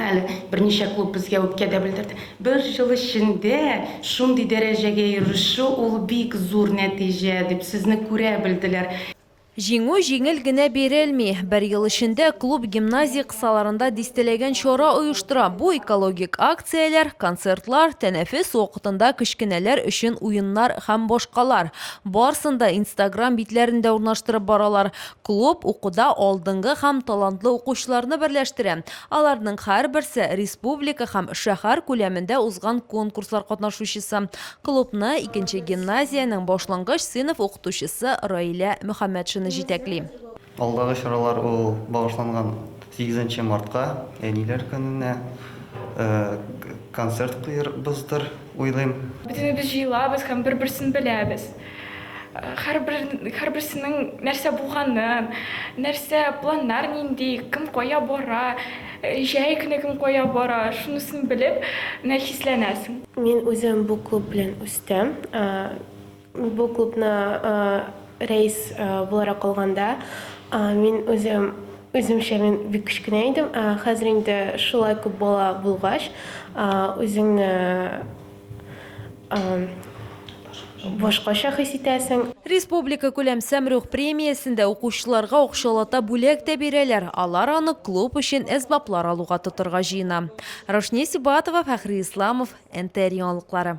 Әле берничә клуб безгә үпкә дә белдерде. Бер ел эчендә шундый дәрәҗәгә ирешү, ул бик зур нәтиҗә, дип сезне күрә белделәр. Җиңү җиңел генә бирелми. Бер ел эчендә клуб гимназия кысаларында дистәләгән чара оештыра. Бу экологик акцияләр, концертлар, тәнәфес вакытында кечкенәләр өчен уеннар һәм башкалар. Барсын да Инстаграм битләрендә урнаштырып баралар. Клуб укуда алдынгы һәм талантлы укучыларны берләштерә. Аларның һәрберсе, республика һәм шәһәр күләмендә узган конкурслар катнашучысы. Клубны икенче гимназиянең башлангыч сыйныф укытучысы Раилә Мөхәммәтшина җитәкли. Алдагы чаралар ул багышланган сигезенче мартка, Әниләр көненә концерт куербыздыр. уйлыйм. Бөтенебез җыелабыз һәм бер-берсен беләбез. Һәрберсенең нәрсә булганын, нәрсә, планнар нинди, кем кая бара, җәй көне кем кая бара, шунысын белеп, менә хисләнәсең. Мин үзем бу клуб белән үстем. Бу клубны рәис буларак алганда, мин үзем, үземчә мин бик кечкенә идем. Хәзер инде шулай күп бала булгач, үзеңне башкача хис итәсең. Республика күләм Сәмрух премиясендә укучыларга акчалата бүләк тә бирәләр, алар аны клуб өчен әсбаплар алуга тотырга җыена. Рошния Сибатова, Фәхри Исламов, НТР яңалыклары.